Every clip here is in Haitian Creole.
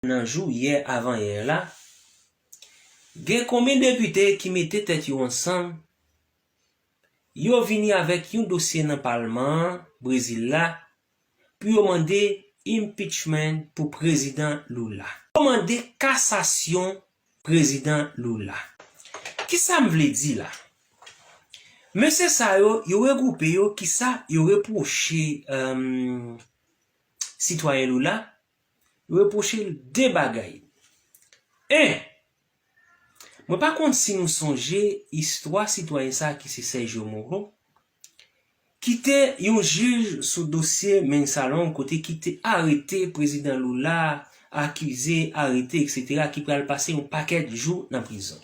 Nan jou yè avan yè la, gen konbyen depite ki mete tèt yo ansanm, yo vini avèk yon dosye nan palman an Brezil la pou yo mande impeachment pou prezidan Lula. Yo mande kasasyon prezidan Lula. Kisa m vle di la? Mesye sa yo, yo regwoupe yo kisa yo repwoche sitwayen Lula? Repwoche l de bagay. 1, Mwen pa konn si nou sonje istwa sitwayen sa a ki se Sergio Moro, ki te yon jij sou dosye Mensalon kote ki te arete prezidan Lula, akize, arete, eksetera, ki pral pase yon pakèt jou nan prizon.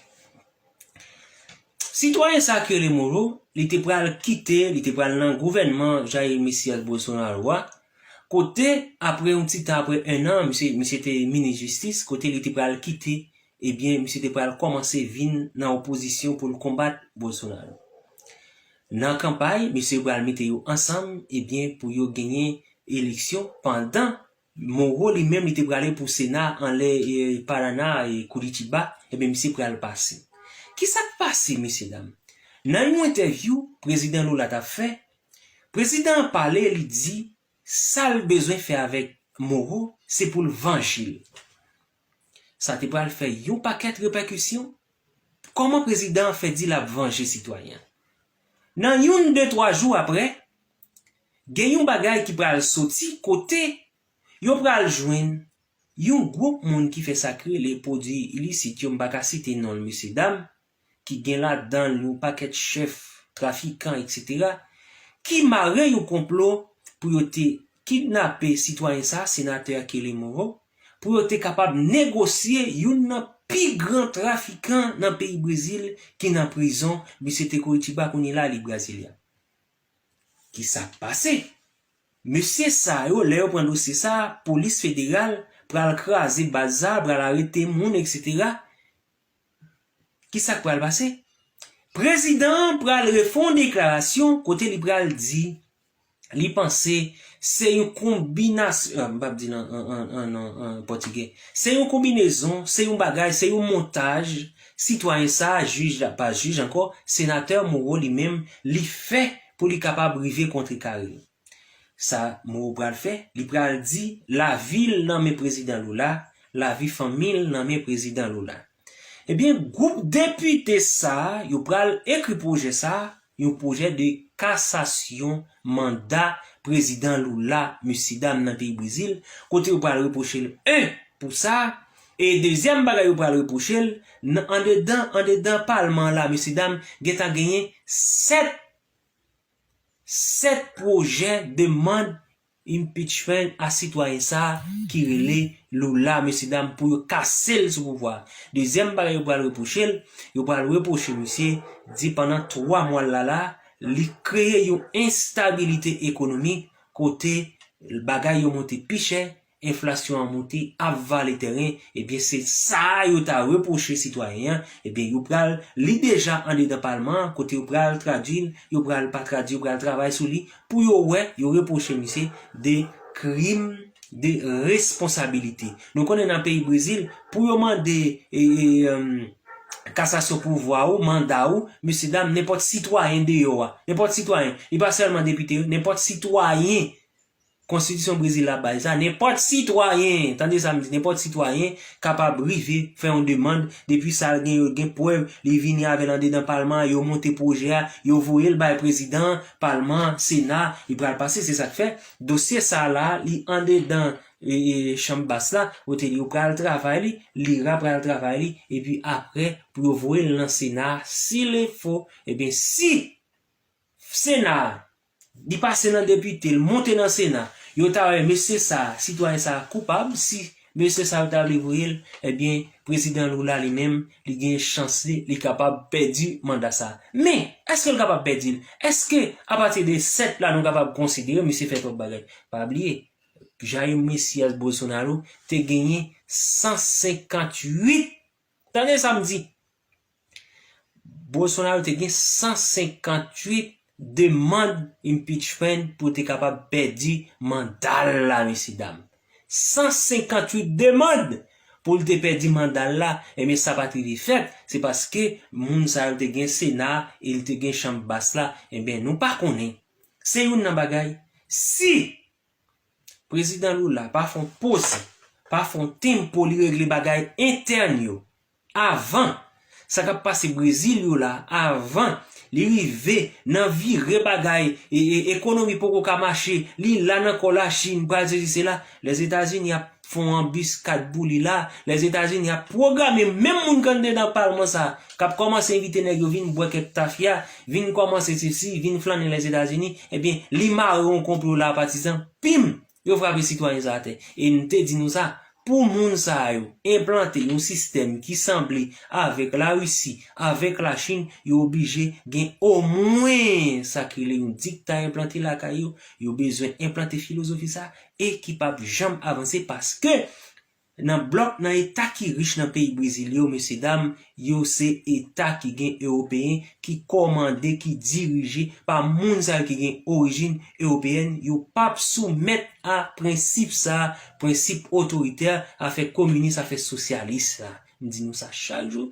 Sitwayen sa ki rele Moro, li te pral kite, li te pral nan gouvènman Jair Messias Bolsonaro a, kote apre yon ti tan apre 1 an, misye misye te minis jistis, kote li te pral kite, ebyen misye te pral kòmanse vin nan opozisyon pou l konbat Bolsonaro. Nan kanpay, misye pral mete yo ansanm, ebyen pou yo genyen eleksyon pandan Moro li menm li te prale pou sena anlè Paraná e Curitiba ebyen misye pral pase. Kisak pase mesye dam? Nan yon entèvyou prezidan Lula tap fè, prezidan an pale li di sal bezwen fè avèk Moro se poul vanjel. Sa te pral fè yon pakèt repèkisyon. Kòman prezidan an fè di l ap vanje sitwayen? Nan youn de twa jou aprè, gen yon bagay ki pral soti kote yo pral jwenn yon gwoup moun ki fè sa k rele pwodui ilisit yo, m pa ka site non l mesyedam, ki gen ladan l yon pakèt chèf, trafikan, etc. Ki mare yon konplo pou yo te kidnape sitwayen sa a, Senatè Kelly Moreau, pou yo te kapab negosye youn nan pi gran trafikan nan peyi Brezil ki nan prizon, misye te Curitiba kounye la li Brasilia. Ki sa k pase? Mesye sa yo, lè yo pran dosye sa a, polis federal pral kraze baz sa a, pral arete moun, etc. Ki sa k pral pase? Prezidan an pral refon deklarasyon kote li pral di li panse se yon konbinas an m pap di l an an an pòtigè se yon konbinezon, se yon bagay, se yon montaj sitwayen sa a, jij la pa jij ankò, senatè Moreau li menm li fè pou li kapab rive kontrekare yo. Sa Moreau pral fè? Li pral di lavi l nan men Prezidan Lula, lavi fanmi l nan men Prezidan Lula. Ebyen, gwoup depite sa a yo pral ekri pwojè sa a, yon pwojè de kasasyon manda Prezidan Lula, mesyedam nan peyi Brezil, kote yo pral repwoche l 1 pou sa, e dezyèm bagay yo pral repwoche l, nan andedan andedan palman an la mesyedam gentan genyen 7. 7 pwojè demand impeachment a sitwayen sa ki rele Lula mesye dam pou yo kase l sou pouvwa a. Dezyèm bagay yo pral repwoche l, yo pral repwoche misye di pandan 3 mwa l la la li kreye yon enstabilite ekonomik kote bagay yo monte pi chè enflasyon an moute ap vale tèren ebyen se sa yo ta repwoche sitwayen an ebyen yo pral li deja andedan palman an kote yo pral tradwil yo pral pa tradwi yo pral travay sou li pou yo wè yo repwoche misye de krim de responsabilite nou konnen nan peyi brezil pou yo mande kasasyon pouvwa ou manda ou mesye dam nenpòt sitwayen deyò a nenpòt sitwayen li pa sèlman depite nenpòt sitwayen Konstitisyon Brezil la bay sa, nenpòt sitwayen, tande sa m di, nenpòt sitwayen kapab rive fè yon demand, depi sa l gen yo gen prèv, li vini avè l andedan palman an, yo monte pwojè a, yo voye l bay prezidan an, palman an, sena, li pral pase, se sa k fè dosye sa la a li andedan chanm bas la, kote li yo pral travay li, lira pral travay li, epi aprè pou yo voye l nan sena a, silefo, ebyen si sena a. Li pase nan depite, l monte nan sena, yo ta wè mesye sa a, sitwayen sa a koupab, si mesye sa yo ta vle voye l, ebyen prezidan Lula li menm, li gen chans li, li kapab pèdi manda sa a. Men, èske l kapab pèdi l? Èske apati de 7 la nou kapab konsidere misye fè twòp bagay? Pa bliye, Jair Messias Bolsonaro te genyen 158 Tande sa m di! Bolsonaro te gen 158 demand impeachment pou te kapab pèdi manda l la mesye dam! 158 demand pou l te pèdi manda l la ebyen sa pat rive fèt se paske moun sa yo te gen sena e l te gen chanm bas la ebyen nou pa konnen se youn nan bagay si Prezidan Lula pa fon poze, pa fon tempo li regle bagay entèn yo avan sa kap pase Brezil yo la avan li rive nan vire bagay ekonomi poko ka mache li la nan kò la Chine pral sesi sela Lèzetazini ap fon anbiskad pou li la, Lèzetazini ap pwograme menm moun kandedan palman sa, k ap kòmanse envite nèg yo vin bwè kèk tafya, vin kòmanse sesi, vin flannen Lèzetazini, ebyen li mare yon konplo la patizan, pim! yo frape sitwayen sa atè. E m te di nou sa, pou moun sa yo enplante yon sistèm ki sanble avèk Larisi, avèk Lachin, yo oblije gen omwen sa ki rele yon dikta enplante lakay yo, yo bezwen enplante filozofi sa, e ki p ap janm avanse paske nan blòk nan eta ki rich nan peyi Brezil yo mesye dam yo se eta ki gen ewopeyen ki kòmande ki dirije pa moun sa yo ki gen orijin ewopeyèn yo p ap soumèt a prensip sa prensip otoritè afè kominis afè sosyalis sa m di nou sa chak jou